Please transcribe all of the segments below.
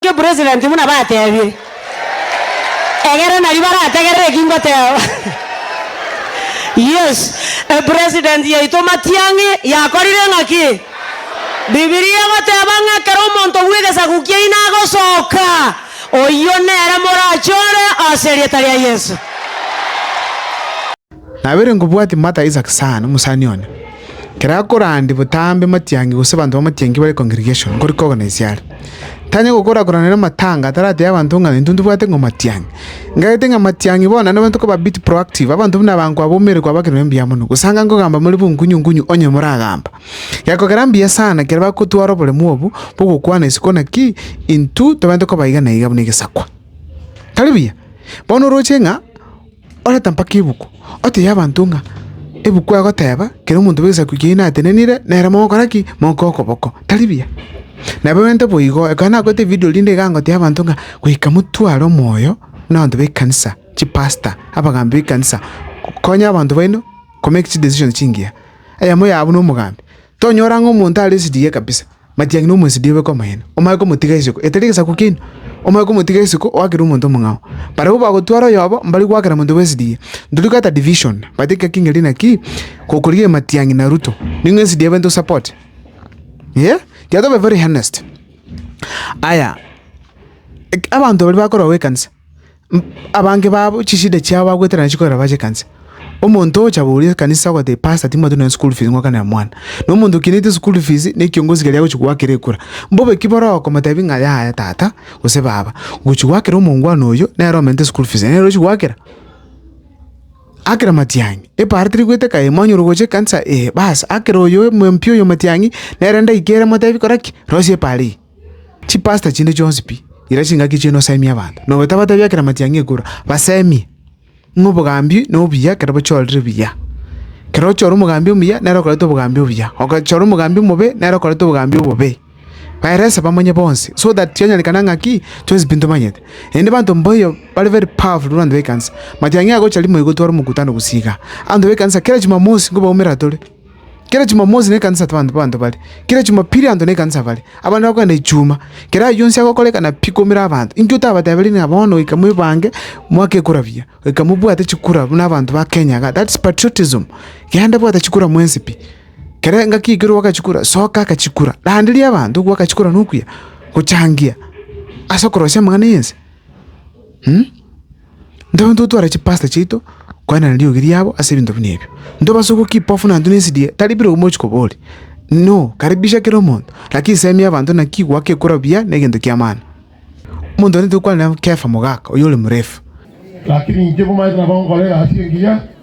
Inche president buna batebire. Egere nari barategerere eki ngoteba. Yes, e president yaito Matiang'i yakorire ng'a ki? Bibilia egoteba ng'a ekero omonto bw'egesaku kiaino agosoka, oyio nere morachore ase erieta ria Yeso. Nabeire nkobwati Martha Isaac sana, omosani one, ekero akorandi botambe matiangi gose abanto bamatiangi bare congregation nkori koorganise are. Tanyare gokora koranera amatanga ataratebe abanto ng'a intwe ntobwate ng'a matiangi. Ng'entete ng'a matiangi bono nabo tokoba a bit proactive, abanto buna abankwa abwo omanyete kwaba ekerero mbuya mono. Gose anga nkogamba more bonkunyu nkunyu onye moragamba. Gekogera mbuya sana ekero bagotwara oboremu obwo bwa ogokwana isiko naki intwe tobwenerete koba iga na iga buna egesakwa. Tari buya? Bono oroche ng'a Oreta mpaka ebuku, oteebie abanto ng'a ebuku egoteeba, kera omonto bw'egesaku kiaino natenenire, nere mogokora ki? Mogoika okoboko. Tari buya? Nabo egento boigo. Ekero nakorete evidio rinde iga ngoteebia abanto ng'a goika motware omoyo buna abanto b'ekanisa, chipasta, abagambi b'ekanisa, konya abanto baino komake chidecision chingiya. Eyemo yao buna omogambi. Tonyora ng'a omonto are esedigie kabisa, matiang'i nomwesidie obe komoyene, omanye komotiga isiko, etari egesaku keino, omanye komotiga isiko, oakere omonto omong'ao. Barabwo bagotwara oyobo, mbari goakera monto bw'esedigie. Ntoria goeta division, but ekiya king'eri naki, gokorigia ematiang'i na Ruto, ning'o esedigie bento support? Eeh, tiga tobe very honest. Aya, abanto baria bakorogwa ekanisa, Abange babo chisida chiabo bagweterana chikorera bachekanse. Omonto ogocha boria ekanisa ogoteba, Pastor, timwati nonya school fees ng'oakanera mwana. Na omonto okinetie nonya school fees, na ekiongozi keria agochia goakera ekura. Mbobe ki boroo okomotebi ng'a yaya tata, gose baba, ngochia goakera omongwana oyio, nere omentete school fees, nere ochi goakera? Akera matiang'i. Epaaro teri goeteka, ee mwanyora ogocha ekanisa, ee. Baas, akera oyo omoyio mpiya oyo matiang'i, nere endagika ere motebi kora ki? Rosia epaaro eyio. Chipasita chinde chionsi pi, ira chingaki chiaino osemie abanto, na otabateebia ekerama tiang'a ekura, basemie. Ng'a obogambi nobuya ekero bochiorire buya. Ekero ochiora omogambi omuya, nere okoreta obogambi obuya, ogachora omogambi omobe, nere okoreta obogambi obobe. Baerese bamanye bonsi, so that chionyerekane ng'a ki? chionsi pi ntomanyete. Naende abanto mboyo bare very powerful abanto b'ekanisa. Matiang'a agocha rimo igotwara omokutano gose igaa. Abanto b'ekanisa kera chimamosi nkobaumera tore. Kera Chumamosi nekanisa abanto abanto bare, kera Chumapili abanto nekanisa bare, abande bakogenda Ichuma. Kera ayio onsi agokorekana pi komira abanto. Inki otabatebirie ng'a bono goika mwebange mwake ekura buya, goika mobwate chikura buna abanto ba Kenya iga? That's patriotism. Genda bwata chikura mwensi pi. Kera engaki ekero ogwaka chikura, soka aka chikura. Randeria abanto ogwaka chikura nokuya, gochangia ase okorosia amang'ana 'ense. Ntobe totware chipasta chiaito koenana riogi riabo ase ebinto buna ebio. Ntobasuku kipofu na intwe ne nsidie tari birogo mochi koboria. Inoo! Karibisha kera omonto, lakini semia abanto na kigwa kekura buya ne gento ki'amano. Omonto one tokwanera Kefa mogaka, oyore morefu. Lakini inche komanyete nabo nkore egasi engiya.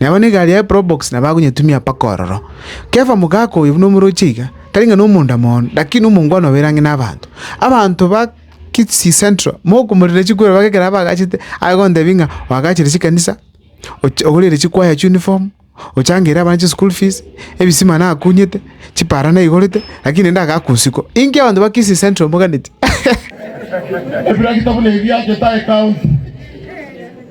Na abana egari yaye probox nabo agonyetumia mpaka ororo. Kefa mogaaka oyo buna omorochi aiga, tari ng'a nomonda moono, lakini omongwana obeire ang'e nabaanto. Abanto ba Kisii Central mokomorirera chikwero baka ekero abagachete, aye gontebia ng'a oagachere chikanisa, ocha ogorere chikwaya chiuniform, ochangeire abana chischool fees, ebisima nakunyete, chipara naigorete, lakini naende agaaka usiku. Inki abanto ba Kisii Central moganeti? Ebiragita buna ebi achete aye county.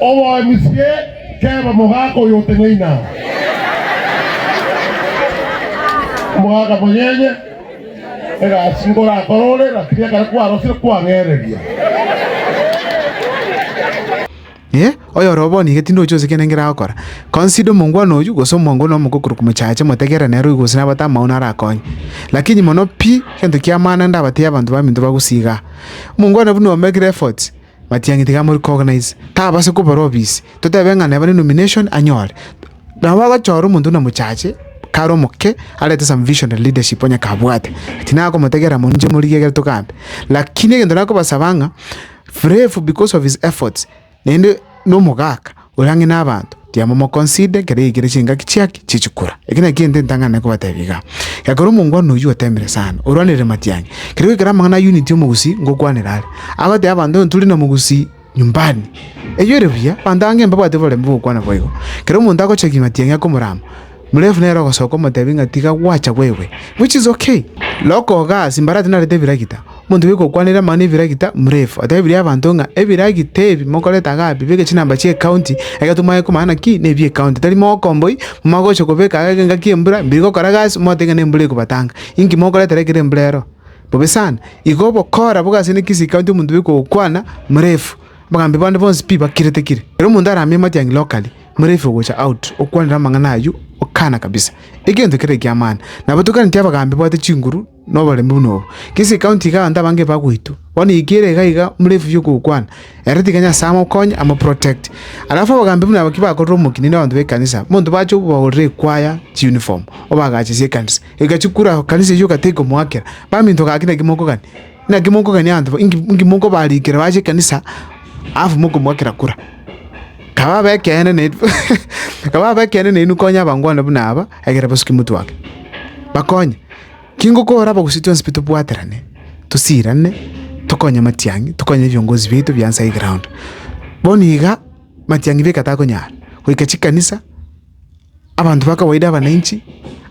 Oboemisie, Keba omogaka oyo oteng'eine aa. Omogaka monyenye, egasi ngorakore ore, rakini ekero kwarosire kwang'ereria. Inee! Oyore obo niga tindi ochi gose kende ngeragokora? Consider omongwana oyio, gose omwango one omoke okorokwa mochache, motegerere nere oyio gose nabate amaoni arakonye. Lakini mono pi, egento ki'amaana ndabateebie abanto baminto bagosiiga aa. Omongwana buna omekire efforts. Matiang'i tiga amorecognize, tabase kobora obisi, totebe ng'a neba ne nomination anyore. Nabo agochora omonto buna mochache, kare omoke, arete some vision and leadership onye kabwate. Tinaa komotegerera moinche morigie egere togambe. Lakini egento nakobasaba ng'a, Frefu because of his efforts, naende nomogaka. Oyo ang'e nabaanto, tiamomokonside, ekero yaikire chingaki chiake chie chikura. Eke nakio egento entang'ane nkobatebia igaa, ekero omongo one oyio oteemire sana, orwanere matiang'i, kere goikera amang'ana a unit y'omogusii ngokwanera are, agoteba abanto ng'a turi na mogusii nyumbani. Eyio ere buya, abanto abange mbabwate oborembe bw'ogokwana boigo. Kera omonto agocha ki matiang'i akomorama. Murefu nere ogosoka omotebi ng'a tiga gwacha gwaigwe, which is ok. Loka ogas mbare ati narete ebiragita, omonto bwe gokwanera amang'ana ebiragita, Murefu atebirie abanto ng'a ebiragita ebi mokorete iga abe bweka chinamba chia ecounty, egento mwagete komanya naki nebia ecounty, tari mogokomboi, momanye gocha kobeka iga engaki y'embura, mbiri gokora gasi, mote ng'a nembura ekobatanga, inki mokoretera ekero embura ero? Bobe sana. Igo obokora bobe ase ne Kisii county omonto bwe gokwana, Murefu, abagambi bande bonsi pi bakire tekire. Kera omonto aramie amatiangi locally. Morefe gocha out okwanera amang'ana ayio okana kabisa. Egento kere ekiamana. Nabatokaneti abagambi babwate chinguru na oboremu buna obo. Gese ekaunti iga abanto abange bagoitwa. Bono eke ere iga iga Morefe yo gokwana. Ere tiga Nyasae amokonye amo protect. Alafu abagambi buna aba ki bakorera omokina na abanto be kanisa. Monto bache obagorera ekwaya chi uniform. Obagachesie ekanisa. Egachikura kanisa eyio ogateka omoakera. Baminto gaki naki mokogania. Naki mokogania abanto inki inki mokobarikera bache ekanisa alafu mokomoakera kura. Kaba abe ekeene naende kaba abe ekeene naende konya abangwana buna aba egere bosuke motwe ake. Bakonye, kingokora abagusii chionsi pi tobwaterane, tosirane, tokonye matiang'i, tokonye ebiongozi biaito bia nsa y'eground. Bono iga matiang'i beka takonyara, goika chikanisa. abanto ba kawaida abananchi,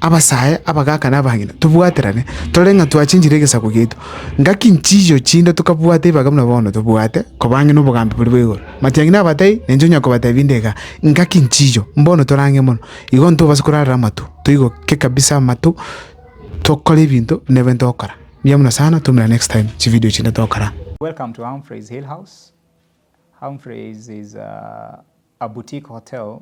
abasae, abagaka na abang'ina, tobwaterane tore ng'a twachenchire egesaku giaito. Ngaki nchiiyo chinde tokabwata ebiaga buna bono tobwate, koba ang'e na obogambi boria bwa igoro. Matiang'i nabatebie, na inche onya kobatebia inde igaa, ngaki nchiiyo, mbono tore ang'e mono. Igo ntobase korarera amatu, toigoke kabisa amatu, tokore ebinto buna ebio ntogokora. Mbuya mono sana, twaumera next time chividio chinde togokora. Welcome to Humphrey's Hill House. Humphrey's is a boutique hotel